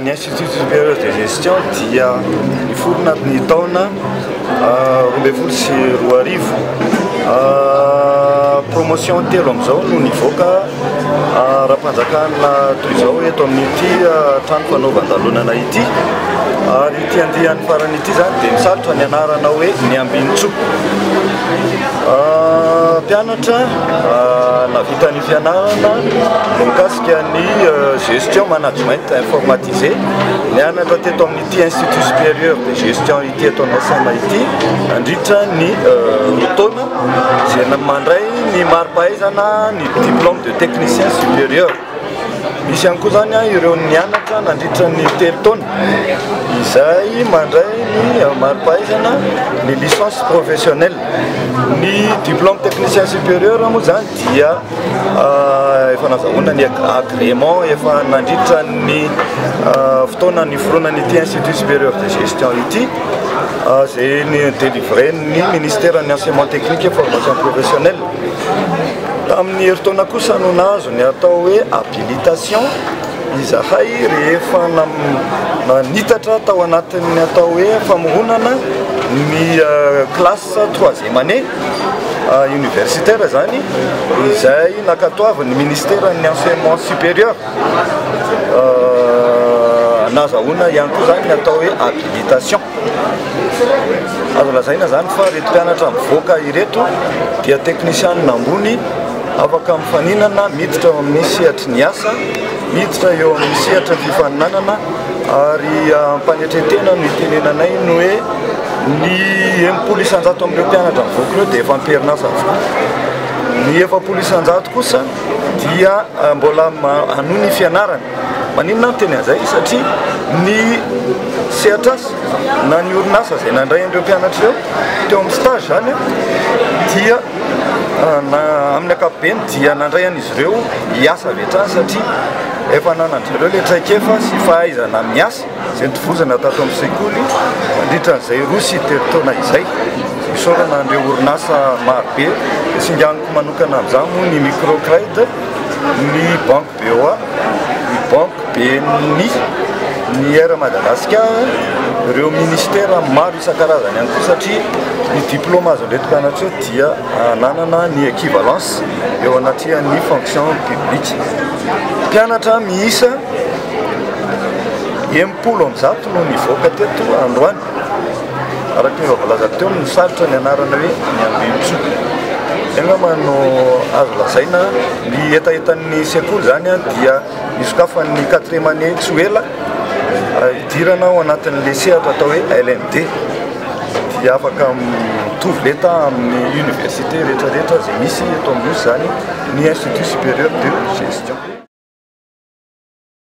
Ny Institut Supérieur de Gestion dia niforona ny taona roa ambin'ny folo sy roa arivo. Promotion telo amin'izao no nivoaka ara-panjakana toy izao eto amin'ity trano fanaovan-dalonana ity. Ary ity andiany farany ity izany dia misalotra ny anarana hoe ny Ambinintsoa. Mpianatra nahavita ny fianarana mikasika ny gestion management informatisé nianatra teto amin'ity institut supérieur de gestion ity eto amin'ny SMA ity nandritra ny roa taona izay mandray ny mari-pahaizana ny diplôme de technicien supérieur misy ihany koa zany ireo nianatra nandritra ny telo taona izay mandray ny mari-pahaizana ny licence professionnelle ny diplôme technicien supérieur moa zany dia Efa nazahoana ny agrément efa nandritra ny fotoana niforonana ity Institut supérieur de gestion ity izay nodélivrer-n'ny Ministeran'ny Enseignement technique et formation professionnelle. Tamin'ny herintaona kosa no nahazo ny atao hoe habilitation izahay rehefa nanitatra tao anatin'ny atao hoe famoronana ny classe troisième année. universitaire zany izay nakatoavin'ny ministeran'ny enseignement supérieur nazahoana ihany koa zany ny atao hoe habilitation azo lazaina zany fa reto mpianatra mivoaka ireto dia teknisianina ambony afaka mifaninana miditra ao amin'ny sehatry ny asa Hiditra eo amin'ny sehatra fifaninanana ary am-panetren-tena no itenenanay ny hoe ny enimpolo isan-jato amin'ireo mpianatra mivoaka eo dia efa am-perinasa avokoa. Ny efapolo isan-jato kosa dia mbola hanohy ny fianarany. Maninona aho miteny an'izay? Satria ny sehatr'asa na ny orinasa izay nandray an'ireo mpianatra ireo teo amin'ny stage izany dia amin'ny ankapobeny dia nandray an'izy ireo. ireo hiasa avy hatrany satria efa ananan'dry zareo ilay traikefa sy fahaizana miasa izay nitovozana tato amin'ny sekoly mandritra an'izay roa sy telo taona izay. Isaorana an'ireo orinasa marobe, tsinganiko manokana amin'izany moa ny Microcred, ny Banque BOA, ny Banque BNI, ny Air Madagascar, ireo ministera maro isan-karazany ihany koa satria ny diplôme azon'ireto mpianatra ireto dia nanana ny équivalence. eo anatrehan'ny fonction publique. Mpianatra miisa enimpolo amby zato no nivoaka teto androany, araka ny efa voalaza teo, misaritra ny anarana hoe ny Ambinintsoa. Izay angamba no azo lazaina. Ny hetahetan'ny sekoly izany dia hisokafan'ny quatrième année tsy ho ela, hidirana ao anatin'ilay sehatra atao hoe LMD. dia afaka mitovy lenta amin'ny université rehetrarehetra izay misy eto amin'ny Nosy izany ny Institut supérieur de gestion.